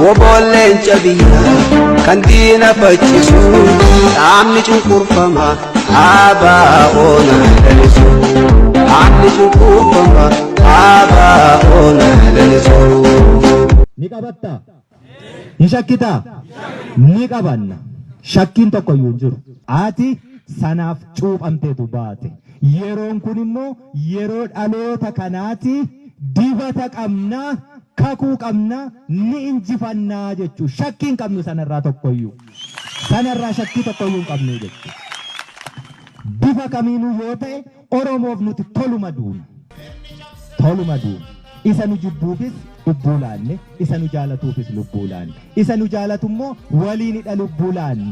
Woboon leenca biyyaa kan diina faccisu dhaabni cunqurfama dhaabaa oona lalisu dhaabni cunqurfama dhaabaa oona lalisu. Ni qabatta? Ni shakkita? Ni qabanna. Shakkiin tokko iyyuu hin jiru. Ati sanaaf cuuphamteetu baate. Yeroon kun immoo Yeroo dhaloota kanaati dibata qabna, kakuu qabna, ni injifanna jechuu shakkii hin qabnu sanarraa tokkoyyuu. Sanarraa shakkii tokkoyyuu hin qabnu jechuudha. Bifa kamiinuu yoo ta'e Oromoof nuti toluma duuna. Toluma duuna. Isa nu jibbuufis lubbuu laanne, isa nu jaalatuufis lubbuu laanne. Isa nu jaalatu immoo waliinidha lubbuu laanne.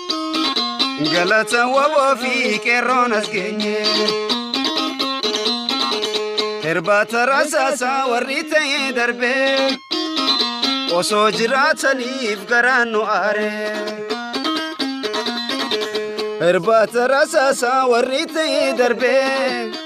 Galata waboo fi qeerroon as geenye. Irbaata rasaasaa warri ta'ee darbee. Osoo jiraataniif garaan nu aaree. Irbaata rasaasaa warri ta'ee darbee.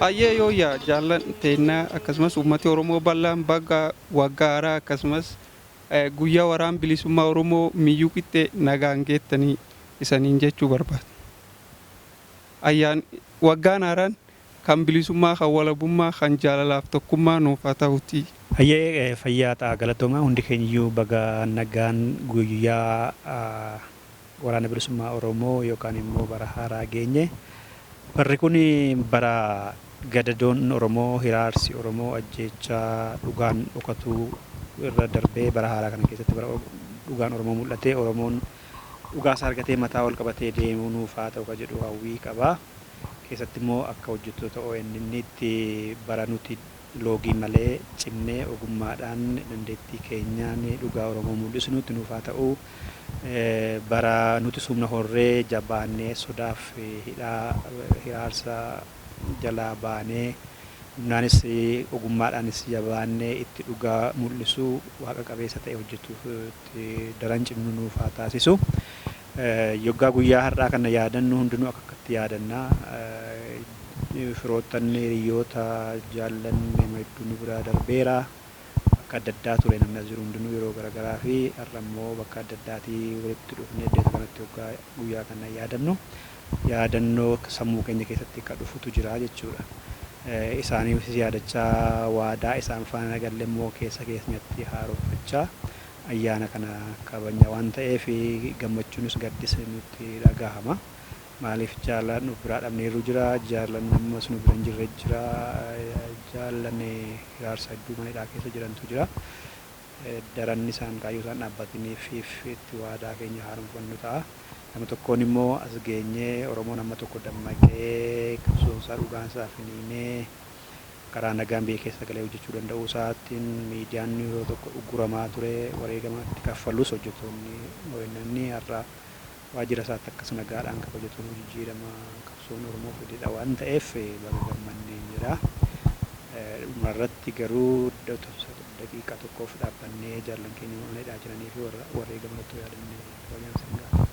Hayyee yooyyaa jaallan teennaa akkasumas uummati Oromoo bal'aan baga waggaa haaraa akkasumas guyyaa waraan bilisummaa Oromoo miyyuu qixxee nagaan geettanii isaniin jechuu barbaada. Ayyaan waggaan haaraan Kan bilisummaa kan walabummaa kan jaalalaaf tokkummaa nuuf haa tahutii. Hayyee fayyaa ta'a galatoomaa hundi keenyiyyuu baga nagaan guyyaa waraana bilisummaa oromoo yookaan immoo bara haaraa geenye barri kun bara gadadoon oromoo hiraarsi oromoo ajjeechaa dhugaan dhokatu irra darbee bara haaraa kana keessatti bara dhugaan oromoo mul'atee oromoon dhugaasaa argatee mataa ol qabatee deemu nuuf haa ta'u kan jedhu hawwii qaba. keessattimmoo akka hojjettoota ONNtti bara nuti loogii malee cimnee ogummaadhaan dandeettii keenyaan dhugaa Oromoo mul'isnuutti nuuf haa ta'u, bara nuti sumna horree jabaannee sodaaf hidhaa hiraarsa jalaa baanee humnaanis ogummaadhaanis jabaannee itti dhugaa mul'isu waaqa qabeessa ta'e hojjetuutti daran cimnu nuuf haa taasisu. Yoggaa guyyaa har'aa kana yaadannu hundinuu akkakkatti yaadanna. Firoottan, hiriyyoota, jaallan nama hedduu nu biraa darbeera. Bakka adda addaa ture namni as jiru hundinuu yeroo garagaraa fi har'a immoo bakka adda addaatii walitti dhufnee iddoo isa kanatti yoggaa guyyaa kana yaadannu yaadannoo sammuu keenya keessatti ka dhufutu jira jechuudha. Isaaniifis yaadachaa waadaa isaan faana galle immoo keessa keenyatti haaromfachaa Ayyaana kana kabajna waan ta'eef gammachuunis gaddisni nutti dhagahama. Maaliif jaallan of biraa dhabneerru jira, jaallan ammas nu bira hin jirre jira, jaallan hiraarsa hedduu mana hidhaa keessa jirantu jira. Daran isaan kaayyoo isaan dhaabbatiniifiif itti waadaa keenya haaromfannu ta'a. Gama tokkoon immoo as geenyee Oromoon amma tokko dammaqee qabsoon isaa dhugaan isaa finiinee, karaa nagaan biyya keessa galee hojjechuu danda'uu isaatiin miidiyaan yeroo tokko ugguramaa ture wareegama itti kaffalus hojjetoonni ONN har'a waajjira isaatti akkas nagaadhaan kabajatunuu jijjiirama qabsoon Oromoo fidedha waan ta'eef baga gammanneen jedha. Dhuma irratti garuu daqiiqaa tokkoof dhaabbannee jaallan keenya mana hidhaa jiranii fi warra wareegaman otoo yaadannee kabajaan isin gaafata.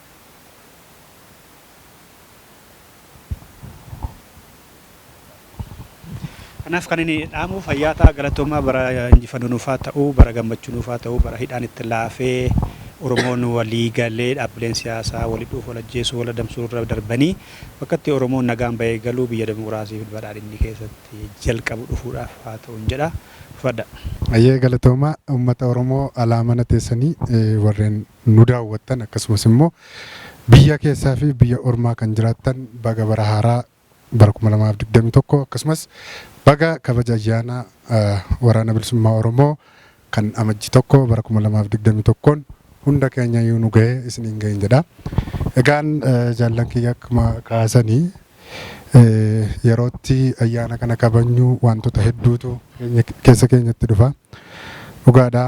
Kanaaf kan inni dhaamu fayyaa ta'a galatoomaa bara injifannoo nuuf haa ta'u bara gammachuu nuuf haa ta'u bara hidhaan itti laafee Oromoon walii galee dhaabbileen siyaasaa wal hidhuuf wal ajjeesuu wal adamsuu irra darbanii bakka itti Oromoon nagaan bahee galuu biyya dimokiraasii fi badhaadhinni keessatti jalqabu dhufuudhaaf haa ta'uun jedha. Ulfaadhaa. Hayyee galatoomaa uummata Oromoo alaa mana teessanii warreen nu daawwattan akkasumas immoo biyya keessaa fi biyya ormaa kan jiraattan baga bara haaraa bara 2021 akkasumas baga kabaja ayyaana waraana bilisummaa Oromoo kan amajji tokko bara 2021n hunda keenyayyuu nu gahe isiniin gahin jedha. Egaan jaallan kiyya akkuma kaasanii Yerootti ayyaana kana kabajnu wantoota hedduutu keessa keenyatti dhufa. Dhugaadha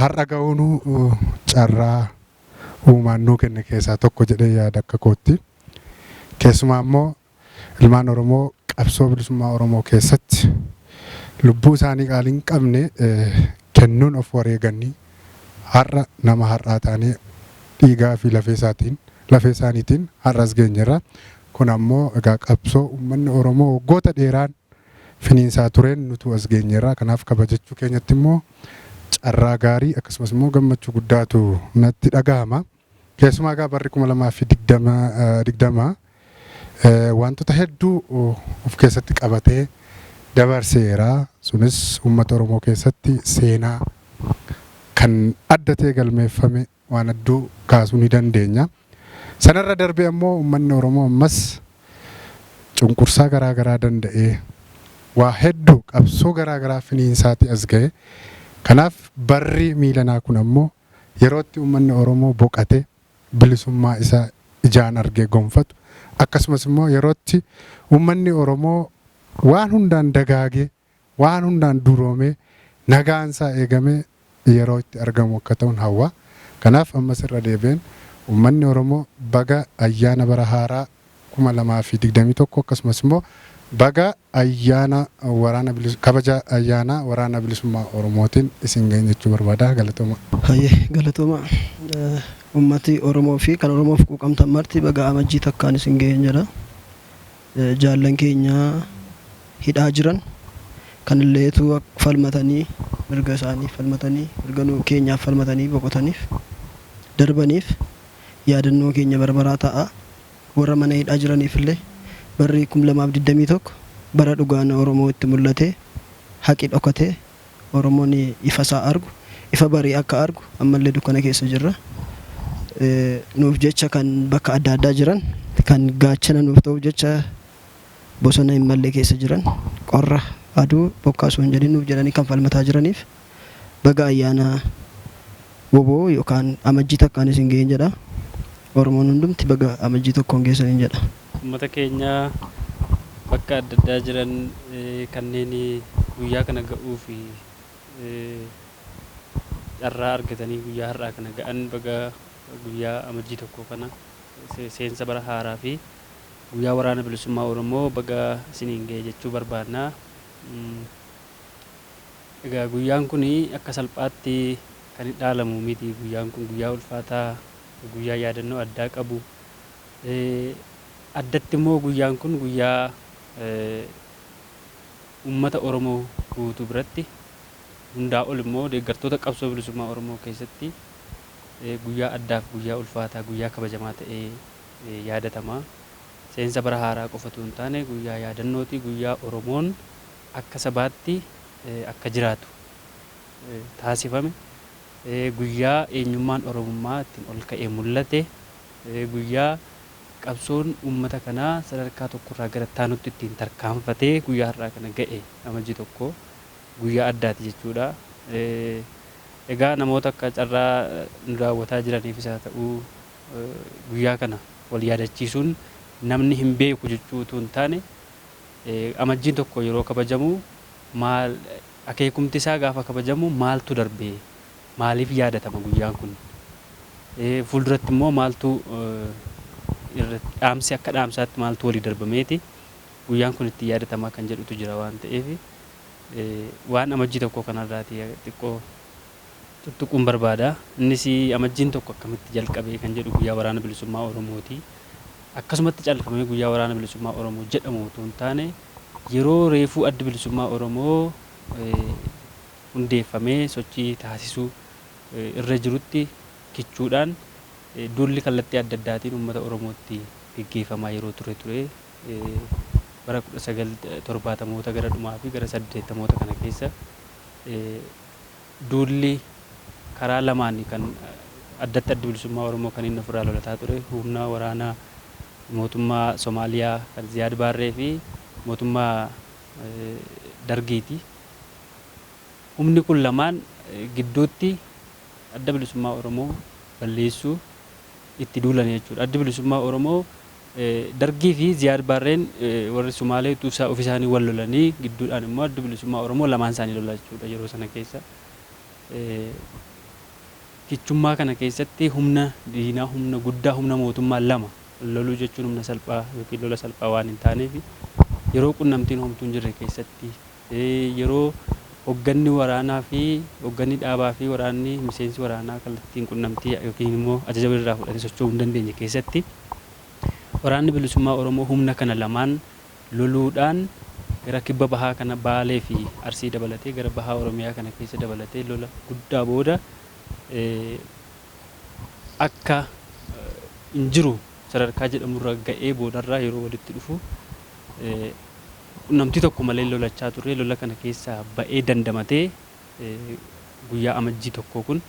har'a ga'uunu carraa uumaan nuu kenne keessaa tokko jedhee yaada akka kootti. Keessumaa immoo ilmaan Oromoo qabsoo bilisummaa Oromoo keessatti lubbuu isaanii qaalii hin qabne kennuun of wareeganii Har'a nama har'aa taanee dhiigaa fi lafee isaatiin, lafee isaaniitiin har'a as geenyerra. Kun ammoo egaa qabsoo uummanni Oromoo waggoota dheeraan finiinsaa tureen nutuu as geenyerra. Kanaaf kabajachuu keenyatti immoo carraa gaarii akkasumas immoo gammachuu guddaatu natti dhagahama. Keessumaa egaa barri 2020 20 waantota hedduu of keessatti qabatee dabarseera. Sunis uummata Oromoo keessatti seenaa kan adda ta'e galmeeffame waan hedduu kaasuu ni dandeenya. Sanarra darbee ammoo uummanni Oromoo ammas cunqursaa garaa garaa danda'ee waa hedduu qabsoo garaa garaa finiinsaatii as ga'e. Kanaaf barri miilanaa kun ammoo Yerootti uummanni Oromoo boqatee bilisummaa isaa ijaan argee gonfatu, akkasumas immoo yerootti uummanni Oromoo waan hundaan dagaagee, waan hundaan duroomee, nagaan isaa eegamee yeroo itti argamu akka ta'un hawwa. Kanaaf ammas irra deebi'een uummanni Oromoo baga ayyaana bara haaraa 2021 akkasumas immoo baga Ayyaana waraana bilis Kabaja ayyaana waraana bilisummaa Oromootiin isin ga'een jechuu barbaada. Galatoomaa. Hayyee galatoomaa. Ummati Oromoo fi kan Oromoof quuqamtan marti baga Amajjii takkaan isin ga'een jedha. Jaallan keenya hidhaa jiran kanillee utuu falmatanii mirga isaaniif falmatanii mirga nu keenyaaf falmatanii boqotaniif darbaniif yaadannoo keenya bara baraa ta'a. Warra mana hidhaa jiraniifillee barri 2021 bara dhugaan Oromoo itti mul'atee, haqi dhokatee, Oromoon ifasaa argu, ifa barii akka argu ammallee dukkana keessa jirra. Nuuf jecha kan bakka adda addaa jiran, kan gaachana nuuf ta'uuf jecha bosona hin malle keessa jiran, qorra, aduu, bokkaa osoo hin jedhin nuuf jedhanii kan falmataa jiraniif, Baga ayyaana wbo yookaan Amajjii takkaan isin ga'een jedha. Oromoon hundumti baga Amajjii tokkoon geessaniin jedha. Ummata keenya bakka adda addaa jiran kanneen guyyaa kana ga'uuf carraa argatanii guyyaa har'aa kana ga'an baga guyyaa Amajjii tokkoo kana seensa bara haaraa fi guyyaa waraana bilisummaa Oromoo baga isiniin ga'e jechuu barbaanna. Egaa guyyaan kun akka salphaatti kan dhaalamu miti. Guyyaan kun guyyaa ulfaataa, guyyaa yaadannoo addaa qabu. Addatti immoo guyyaan kun guyyaa uummata Oromoo guutuu biratti hundaa ol immoo deeggartoota qabsoo bilisummaa Oromoo keessatti guyyaa addaaf guyyaa ulfaataa guyyaa kabajamaa ta'ee yaadatama. Seensa bara haaraa qofa utuu hin taane guyyaa yaadannootii guyyaa Oromoon akka sabaatti akka jiraatu taasifame, guyyaa eenyummaan Oromummaa ittiin ol ka'ee mul'ate, guyyaa qabsoon uummata kanaa sadarkaa tokko irraa gara itti aanutti ittiin tarkaanfatee guyyaa har'aa kana ga'e Amajjii 1 guyyaa addaati jechuudha. Egaa namoota akka carraa nu daawwataa jiraniifis haa ta'u guyyaa kana wal yaadachiisuun namni hin beeku jechuu utuu hin taane, Amajjiin tokko yeroo kabajamu maal akeekumti isaa gaafa kabajamu maaltu darbe? Maaliif yaadatama guyyaan kun? Fuulduratti immoo maaltu irratti dhaamsi akka dhaamsaatti maaltu walii darbameeti guyyaan kun itti yaadatamaa kan jedhutu jira waan ta'eef waan amajjii tokkoo kanarraati xiqqoo tuttuquun barbaada. Innis Amajjiin 1 akkamitti jalqabe kan jedhu Guyyaa Waraana Bilisummaa Oromooti. Akkasumatti callfamee Guyyaa Waraana Bilisummaa Oromoo jedhamu utuu hin taane yeroo reefuu Addi Bilisummaa Oromoo hundeeffamee sochii taasisuu irra jirutti kichuudhaan duulli kallattii adda addaatiin uummata Oromootti geggeeffamaa yeroo ture ture. Bara 1970moota gara dhumaa fi gara 80moota kana keessa duulli karaa lamaani kan addatti Addi Bilisummaa Oromoo kan inni ofirraa lolataa ture humna waraanaa mootummaa Somaaliyaa kan Ziyaad Baarree fi mootummaa Dargiiti. Humni kun lamaan gidduutti Adda Bilisummaa Oromoo balleessuu itti duulani jechuudha. Addi Bilisummaa Oromoo Dargii fi Ziyaad Baarreen warri Sumaalee utuu isaa ofi isaanii wal lolanii gidduudhaan immoo Addi Bilisummaa Oromoo lamaan isaanii lola jechuu dha yeroo sana keessa. Kichummaa kana keessatti humna diinaa humna guddaa humna mootummaa lama loluu jechuun humna salphaa yookiin lola salphaa waan hin taaneef yeroo qunnamtiin homtuu hin jirre keessatti Yeroo hogganni waraanaa fi hogganni dhaabaa fi waraanni miseensi waraanaa kallattiin qunnamtii ykn immoo ajaja walirraa fudhatee socho'uu hin dandeenye keessatti Waraanni Bilisummaa Oromoo humna kana lamaan loluudhaan gara kibba bahaa kana Baalee fi Arsii dabalatee gara bahaa Oromiyaa kana keessa dabalatee lola guddaa booda akka hin jiru sadarkaa jedhamurra ga'ee boodarra yeroo walitti dhufu Namtii tokko malee lolachaa turree lola kana keessaa ba'ee dandamatee guyyaa Amajjii 1 kun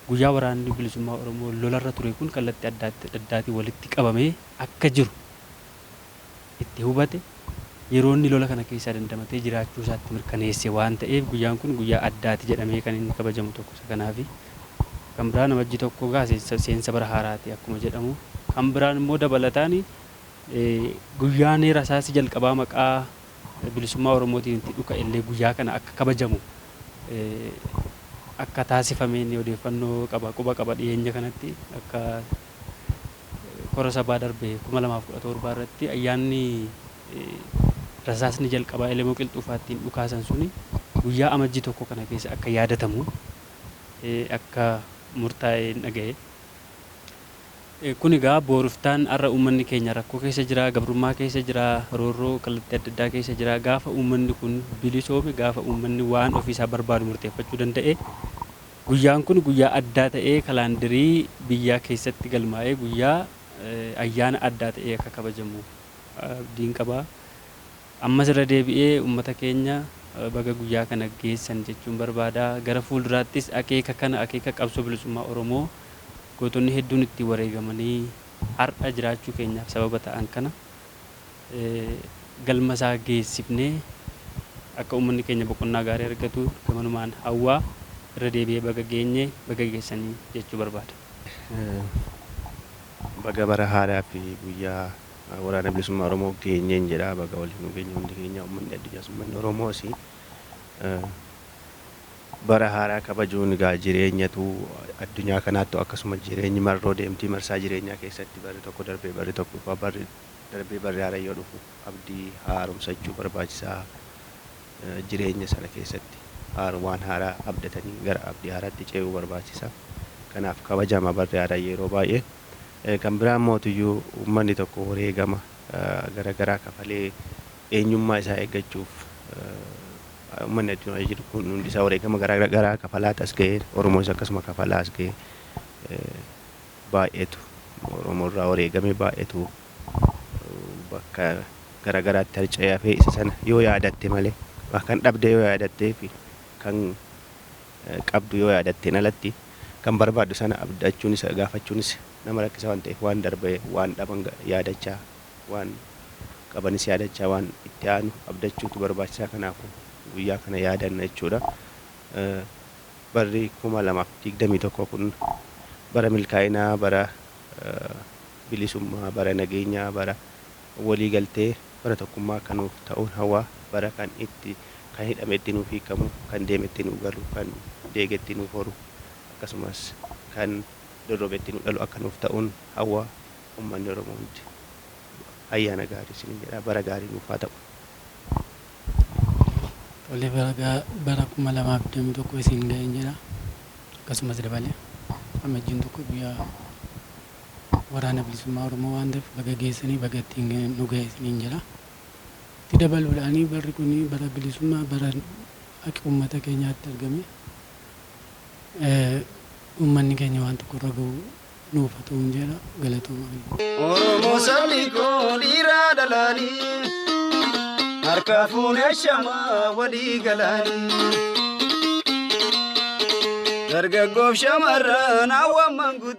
guyyaa waraanni bilisummaa Oromoo lolarra ture kun kallatti adda addaatiin walitti qabamee akka jiru itti hubate yeroo inni lola kana keessaa dandamatee jiraachuu isaatti mirkaneesse waan ta'eef guyyaan kun guyyaa addaati jedhamee kan inni kabajamu tokko isa kanaafi. Kan biraan Amajjii 1 gaa seensa bara haaraati akkuma jedhamu kan biraan immoo dabalataani Guyyaani rasaasi jalqabaa maqaa bilisummaa Oromootiin itti dhuka ellee guyyaa kana akka kabajamu akka taasifamee inni odeeffannoo qaba quba qaba dhiyeenya kanatti akka kora sabaa darbe 2017 irratti ayyaanni rasaasni jalqabaa elemoo qilxuufaattiin dhukaasan suni guyyaa amajjii tokko kana keessa akka yaadatamu akka murtaa'ee dhaga'e. Kun egaa booriftaan har'a uummanni keenya rakkoo keessa jira, gabrummaa keessa jira, roorroo kallattii adda addaa keessa jira. Gaafa uummanni kun bilisoome, gaafa uummanni waan ofii isaa barbaadu murteeffachuu danda'e, guyyaan kun guyyaa addaa ta'ee kalaandirii biyyaa keessatti galmaa'ee guyyaa ayyaana addaa ta'ee akka kabajamu abdiin qaba. Ammas irra deebi'ee ummata keenya baga guyyaa kana geessan jechuun barbaada. Gara fuulduraattis akeeka kana akeeka qabsoo bilisummaa Oromoo gootonni hedduun ittiin wareegamanii har'a jiraachuu keenyaaf sababa ta'an kana galma isaa geessifnee akka ummanni keenya boqonnaa gaarii argatu gamanumaan hawwaa irra deebi'ee baga geenye baga geessanii jechuu barbaada. Baga bara haaraa fi guyyaa Waraana Bilisummaa Oromoo geenyeen jedha. Baga waliin nu geenye hundi keenya uummanni addunyaas uummanni Oromoos bara haaraa kabajuun egaa jireenyatu addunyaa kanaattu akkasuma jireenyi marroo deemtii marsaa jireenyaa keessatti barri tokko darbee barri tokko dhufa barri darbee barri haaraa yoo dhufu abdii haaromsachuu barbaachisaa jireenya sana keessatti haar waan haaraa abdatanii gara abdii haaraatti ce'uu barbaachisa. Kanaaf kabajama barri haaraa yeroo baay'ee. Kan biraa immootiyyuu uummanni tokko wareegama gara garaa kafalee eenyummaa isaa eeggachuuf uummanni addunyaa jiru kun hundi isaa wareegama gara garaa kafalaat as gaheera. Oromoonis akkasuma kafalaa as gahe. Baay'eetu Oromoo irraa wareegame baay'eetu bakka gara garaatti harca'ee hafee isa sana yoo yaadatte malee kan dhabde yoo yaadattee fi kan qabdu yoo yaadatteen alatti kan barbaaddu sana abdachuunis gaafachuunis nama rakkisa waan ta'eef waan darbe waan dhaban yaadachaa waan qabanis yaadachaa waan itti aanu abdachuutu barbaachisaa kanaafu guyyaa kana yaadanna jechuudha. Barri 2021 kun bara milkaa'inaa bara bilisummaa bara nageenyaa bara Walii galtee bara tokkummaa akka nuuf ta'uun hawwa bara kan itti kan hidhame itti nuuf hiikamu kan deeme itti nuu galu kan deege itti nuuf horu akkasumas kan dorrobe itti nuu dhalu akka nuuf ta'uun hawwa ummanni oromoo hundi ayyaana gaarii isiniin jedha bara gaarii nuuf haa ta'u. Tole baga bara 2021 isin ga'een jedha akkasumas dabalee amajjiin tokko guyyaa. Waraana Bilisummaa Oromoo waan ta'eef baga geessanii baga ittiin nu gahe isiniin jedha. Itti dabaluudhaan barri kun bara bilisummaa bara haqi uummata keenyaa itti argame uummanni keenya waan tokko irra gahu nuuf haa ta'uun jedha galatoomaa. Oromoo sabni koo dhiiraa dhalaanii harka fuunee shamaa walii galaanii. Dargaggoof shamarran hawwan manguddoo.